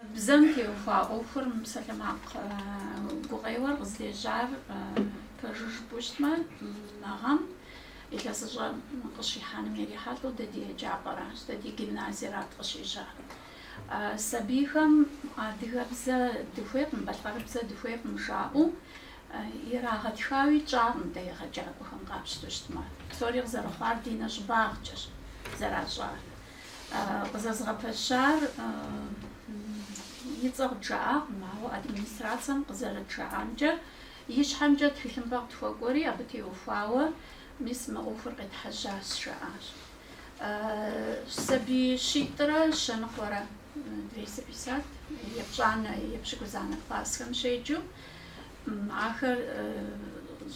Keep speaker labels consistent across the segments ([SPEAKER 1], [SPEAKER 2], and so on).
[SPEAKER 1] Бзэм теухуа ӏуэхур псалъэмакъ гукъеуэр къызлежьар пэжу жыпӏэу щытмэ, мы гъэм илъэсыщӏэр къыщихьэным ирихьэлӏэу дэ ди еджапӏэращ, дэ ди гимназиерат къыщежьар. Сабийхэм адыгэбзэ дыхуейкъым, балъкъэрыбзэ дыхуейкъым жаӏэу ирагъэтхауи тщӏакъым дэ егъэджакӏуэхэм къапщтэу щытмэ. Псори къызэрыхъуар ди нэщӏыбагъкӏэщ зэращӏар. Къызэзыгъэпэщар и цӏэ къыджаӏакъым, ауэ администрацэм къызэрыджаӏамкӏэ, и щхьэмкӏэ тхылъымпӏэ къытхуэкӏуэри, абы теухуауэ, мис мы ӏуэхур къетхьэжьащ, жаӏащ. Сабий щитӏрэ щэ ныкъуэрэ, двести пятьдесят, епщӏанэ, епщыкӏузанэ классхэм щеджэу, ахэр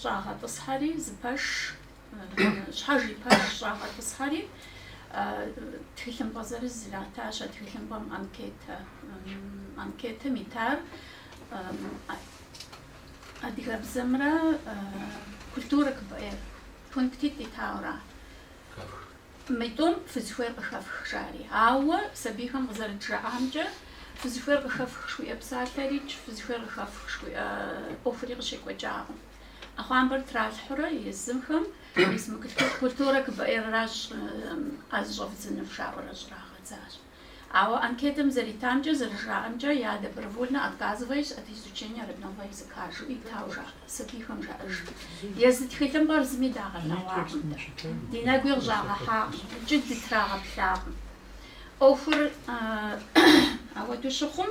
[SPEAKER 1] щӏагъэтӏысхьэри, зы пэш Щхьэж и пэш щӏагъэтӏысхьэри, тхылъымпӏэ зырыз иратащ, а тхылъымпӏэм анкетэ, анкетым итар адыгэбзэмрэ культурэ КБР пунктитӏ итауэра. Мы тӏум фызыхуейр къыхэфх, жари. Ауэ сабийхэм къызэрыджаӏамкӏэ, фызыхуейр къыхэфх жыхуиӏэ псалъэрикӏ, фызыхуейр къыхэфх жыхуиӏэ ӏуэхури къыщекӏуэкӏакъым. ӏэхъуамбэр тралъхьурэ езымхэм мис мы культурэ КБР-ращ ӏэ зыщӏэвдзынур жаӏэурэ щӏрагъэдзащ. Ауэ анкетэм зэритамкӏэ, зэрыжаӏэмкӏэ, я добровольно отказываюсь от изучения родного языка жиӏэу итауэ сабийхэм жаӏэж. Езы тхылъымпӏэр зыми дагъэлъэгъуакъым, ди нэгуи къыщӏагъэхьакъым, икӏи дытрагъэплъакъым. ӏуэхур ауэду щыхъум,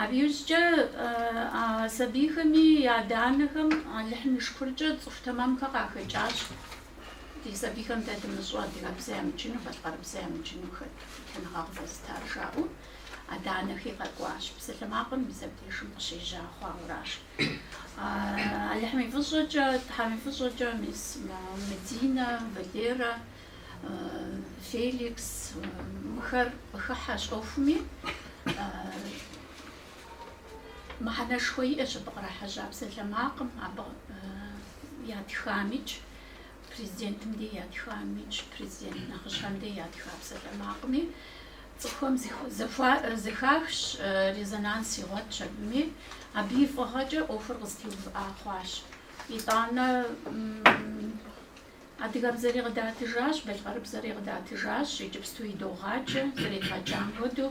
[SPEAKER 1] Абы иужькӏэ а сабийхэми я адэ-анэхэм Алыхьым и шыкуркӏэ цӏыху тэмэмхэр къахэкӏащ, ди сабийхэм дэ дымыщӏу адыгэбзэ ямыджыну, балъкъэрыбзэ ямыджыну хуитыныгъэ къывэзытар жаӏэу, адэ-анэхи къэкӏуащ. Псалъэмакъым мис абдежым къыщежьа хъуауэращ. Алыхьым и фӏыщӏэкӏэ, Тхьэм и фӏыщӏэкӏэ мис Мединэ, Валерэ, Феликс мыхэр къыхыхьэщ ӏуэхуми, мыхьэнэшхуэ иӏэщ абы кърахьэжьа псалъэмакъым, абы ятхамикӏ, президентым де ятхамикӏ, президент нэхъыщхьэм де ятха псалъэмакъми, цӏыхухэм зэхахщ, резонанс игъуэтщ абыми, абы и фӏыгъэкӏэ ӏуэхур къызэтеувыӏа хъуащ. Итӏанэ Адыгэбзэри къыдатыжащ, балъкъэрыбзэри къыдатыжащ, иджыпсту идогъаджэ, зэредгъэджам хуэдэу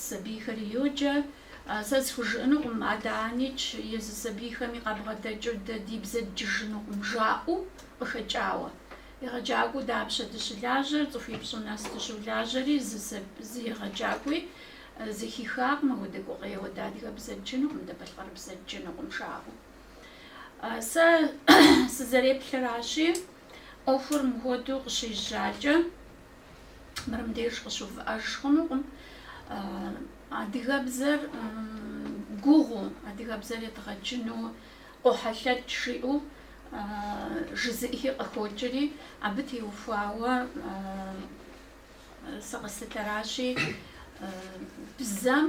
[SPEAKER 1] сабийхэри йоджэ. Сэ схужыӏэнукъым, адэ-анэ икӏи езы сабийхэми къабгъэдэкӏыу дэ ди бзэ дджыжынукъым, жаӏэу къыхэкӏауэ. Егъэджакӏуэу дапщэ дыщылажьэр, цӏыхуипщӏу нэс дыщолажьэри, зы егъэджакӏуи зэхихакъым, апхуэдэ гукъеуэ дэ адыгэбзэ дджынукъым, дэ балъкъэрыбзэ дджынукъым жаӏэу. Сэ сызэреплъыращи, ӏуэхур мыхуэдэу къыщежьакӏэ, мырым деж къыщувыӏэж хъунукъым. Адыгэбзэр гугъу, адыгэбзэр едгъэджыну къохьэлъэкӏ жиӏэу жызыӏхи къыхокӏри, абы теухуауэ Сэ къыслъытэращи, бзэм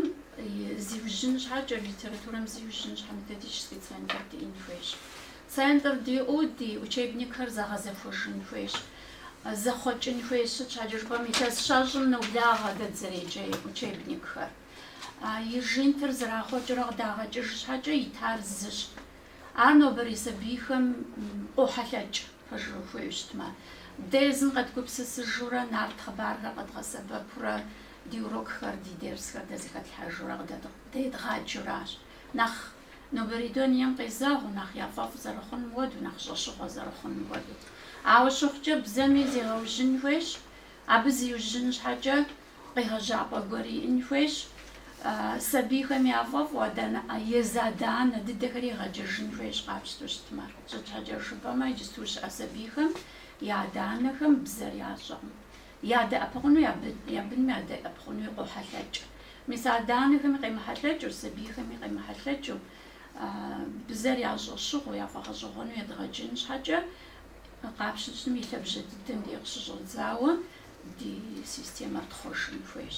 [SPEAKER 1] зиужьын щхьэкӏэ, литературэм зиужьын щхьэ методический центр диӏэн хуейщ. Центр диӏэу ди учебникхэр зэгъэзэхуэжын хуейщ, зэхъуэкӏын хуейщ. Сыт щхьэкӏэ жыпӏэм, илъэс щэщӏым ноблагъэ дэ дызэреджэ учебникхэр. И жинтыр зэрахъуэкӏрэ къыдагъэкӏыж щхьэкӏэ итар зыщ. Ар нобэрей сабийхэм къохьэлъэкӏ, пэжу хуейуэ щытмэ. Дэ езым къэдгупсысыжурэ, нарт хъыбархэр къэдгъэсэбэпурэ, ди урокхэр, ди дерсхэр дэ зэхэтлъхьэжурэ къыдэ едгъаджэращ. Нэхъ нобэрей дунейм къезэгъыу, нэхъ яфӏэфӏ зэрыхъуным хуэдэу, нэхъ щӏэщыгъуэ зэрыхъуным хуэдэу. Ауэ щыхъукӏэ, бзэми зегъэужьын хуейщ, абы зиужьын щхьэкӏэ, Къегъэжьапӏэ гуэр иӏэн хуейщ. Сабийхэм яфӏэфӏу адэ-анэ, езы адэ-анэ дыдэхэри егъэджэжын хуейщ къапщтэу щытмэ. Сыт щхьэкӏэ жыпӏэмэ, иджысту щыӏэ сабийхэм я адэ-анэхэм бзэр ящӏэкъым. Ядэӏэпыкъуну я бынми ядэӏэпыкъунуи къохьэлъэкӏ. Мис адэ-анэхэми къемыхьэлъэкӏыу, сабийхэми къемыхьэлъэкӏыу бзэр ящӏэщыгъуэу, яфӏэгъэщӏэгъуэну едгъэджын щхьэкӏэ Къапщтэу щытмэ, и лъэбжьэ дыдэм дей къыщыщӏэдзауэ ди системэр тхъуэжын хуейщ.